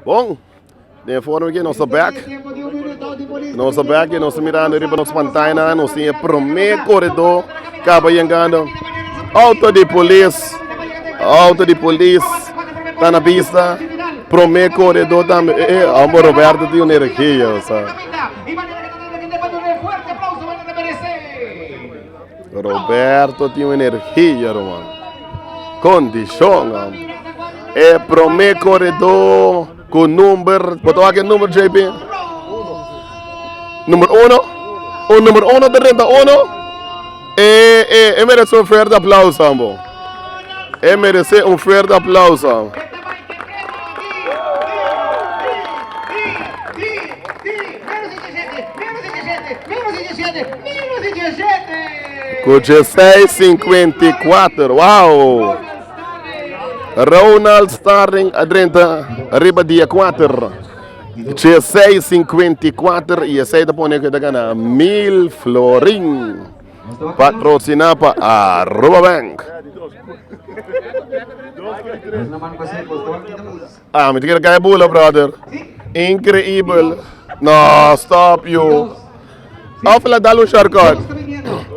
Bon, den e forma ke nos ta bèk, nos ta bèk i nos ta mirando riba nos pantainan, nos tin e promé koredó kaba yengando. Outo di polis, outo di polis ta na bista, promé koredó tambe. E, e, amo Roberto tin un energia, sa. Roberto tin un energia ruman. Kondishon am. E promé koredó ku number, bota wak e number JP? Number uno? Un number uno te renta uno? E e e merece un fuerte aplauso ambo. E merece un fuerte aplauso. Cu 1654. Wow. Ronald Starling adrenta arriba dia 4. 1654 y ese te pone que te gana mil florin. Patrociná pa Aruba Bank. Ah, mi ta kere kai bula, brother. Increíble. No, stop you. Of la dal un shortcut.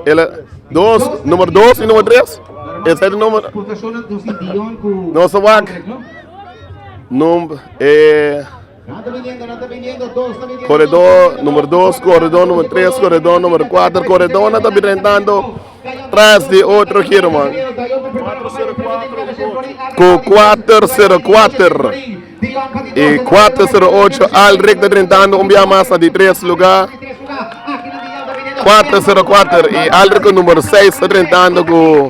Ele, dos, número dos y número tres. Ese es el número. No se wak. Num, eh, Koredó número dos, koredó número tres, koredó número kuater, koredónan ta bira entrando tras di otro giro, man. Ku 404 i 408 al rek ta trentando un bia mas na di tres lugar. 404 i al rek ku número 6 ta trentando ku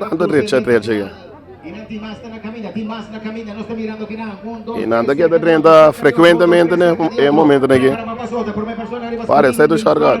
Nan ta drecha drecha aki. Y nan ta keda drenta frecuentemente na e momentonan aki. Pare, set u shortcut.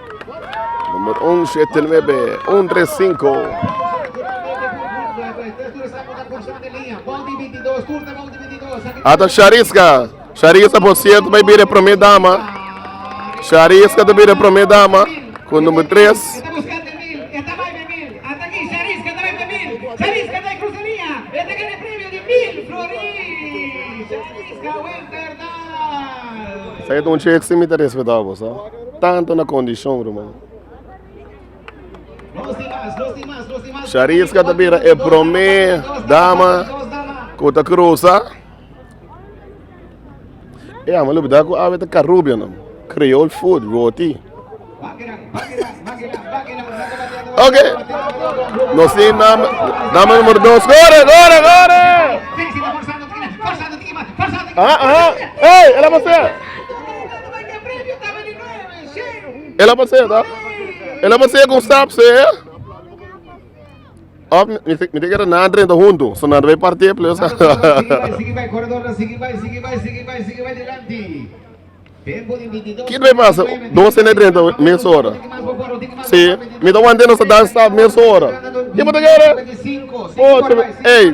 Number un siete nuebe un tres cinco. Ata Shariska. Shariska por cierto vai bira primeira dama. Shariska te bira primeira dama com o número 3. Sai de um cheque sem me respeitar, você. Tanto na kondishon, ruman. Shariska ta bira e promé dama ku ta krusa. E ama lo bida ku awe ta karubia no. Creole food, roti. Ok. No si nam, dama numero dos. Gore, gore, gore! Ah, ah. Hey, ela masé. El a pasea ta? El a pasea con stap se eh? Of mi te mi te kere na drenta huntu, so na bay partie plus. Sigi bay corredor na sigi bay sigi bay sigi bay sigi bay dilanti. Tempo di 22. Kit bay pasa, dos en drenta mes hora. Si, mi te wante no sa dan stap mes hora. Ki mo te kere? 25. Ocho, ey.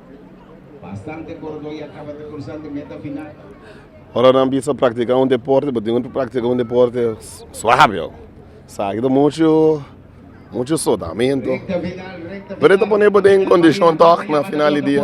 Bastante korodó ya kaba ta krusando e meta final. Ora nan bisa praktiká un deporte bo tin ku praktiká un deporte suave. Sa aki ta muchu muchu sudamentu pero e ta pone bo den kondishon tòg na final di dia.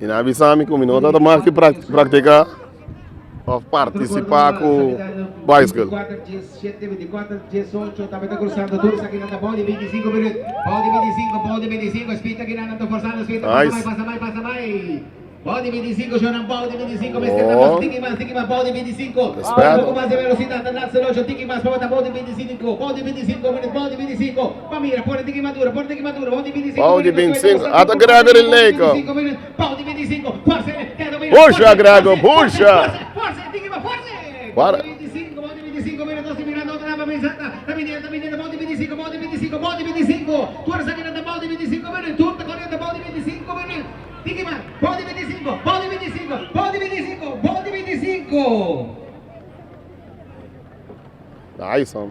I na bisa mi ku mi no tabata mas ki praktiká òf partisipá ku baisikl. Nice. Pau di bintisinku, ata Gregory el Leiko. Pusha Grego, pusha! Para. Na ai son.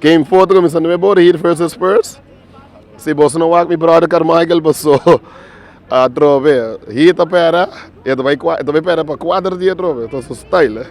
Ken foto cu mi sa nube bor hit first is first si boso no wak mi brother Carmichael paso atrobe hit ta pera e ta bay pera pa cuater dia atrobe ta su style eh.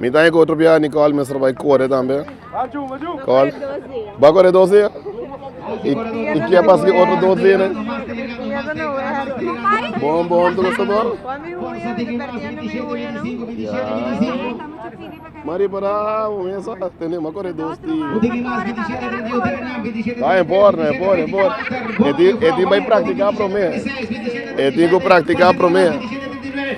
Mi ta hiko otro biaha Nicole mester bai kore tambe. Kol. Ba kore dos dia. I, i kia pas ki otro dos dia ne. Bon bon tu gosto bon. Ya. Mari para mesa tene ma kore dos dia. Ba en por, en por, en por. E ti e ti bai practicar prome. E ti ko practicar prome.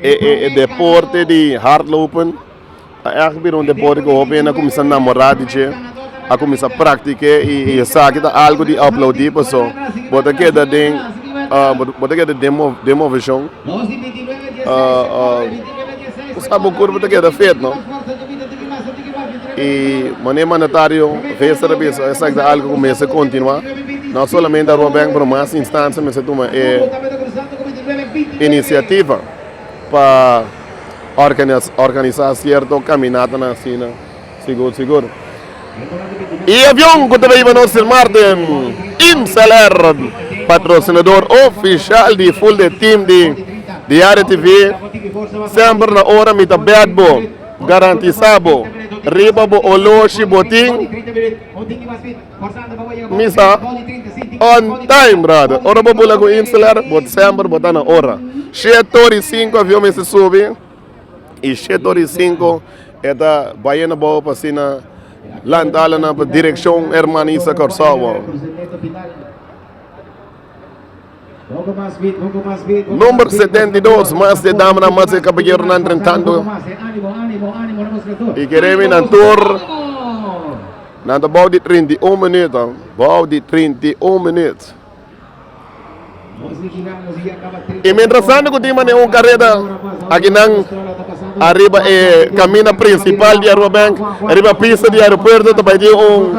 E deporte di hardlopen a echt bira un deporte ku hopi hende a kuminsá namorá di dje, a kuminsá praktik'é i esaki ta algu di aplaudí pasobra bo ta keda den bo ta keda den moveshon bo sabi bo kurpu ta keda fet no. I mané mandatario bes ta na bisa esaki ta algu ku mester kontinuá no solamente a Robenkbron mas instansha mester tuma e. inisiativa pa organisá sierto kaminatanan asina sigur sigur. E avion ku ta baiba nos di marte, IMSLR, patrosinador ofisial di Full Day Team di Diario TV, semper na ora mi ta bèt bo, garantisá bo riba bo oloshi bo tin. Mi sa on time brother. Ora bo bula ku Insler, bo semper bo ta na ora. Shit tor i sinku avion mester subi i shit tor i sinku e ta baye na bobo pa asina lanta alanan pa direkshon Herman Isa Kòrsou. Nomber setenta i dos, Mas di e damanan mas di e kaballeronan rentando i kere win nan tur. Nan ta bou di trinta i un minuut, bou di trinta i un minuut. I mientras tanto ku tin mane un kareta aki nan ariba e kamina prinsipal di Arubabank, riba pista di aeropuerto ta bai tin un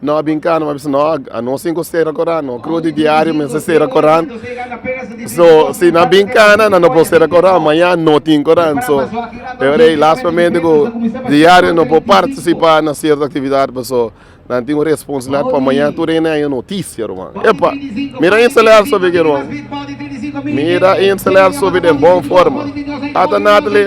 No a binka no a bisa no a no sin cu cera coran no creo di diario mester cera coran so si nan binka nan nan no por cera coran maya no tin coran so e ora e last momento cu diario no por participa na cierto actividad paso nan tin un responsabilidad pa maya tur e nan e noticia ruman epa mira e ensalada sobe aki ruman mira e ensalada sobe den bon forma ata Nathalie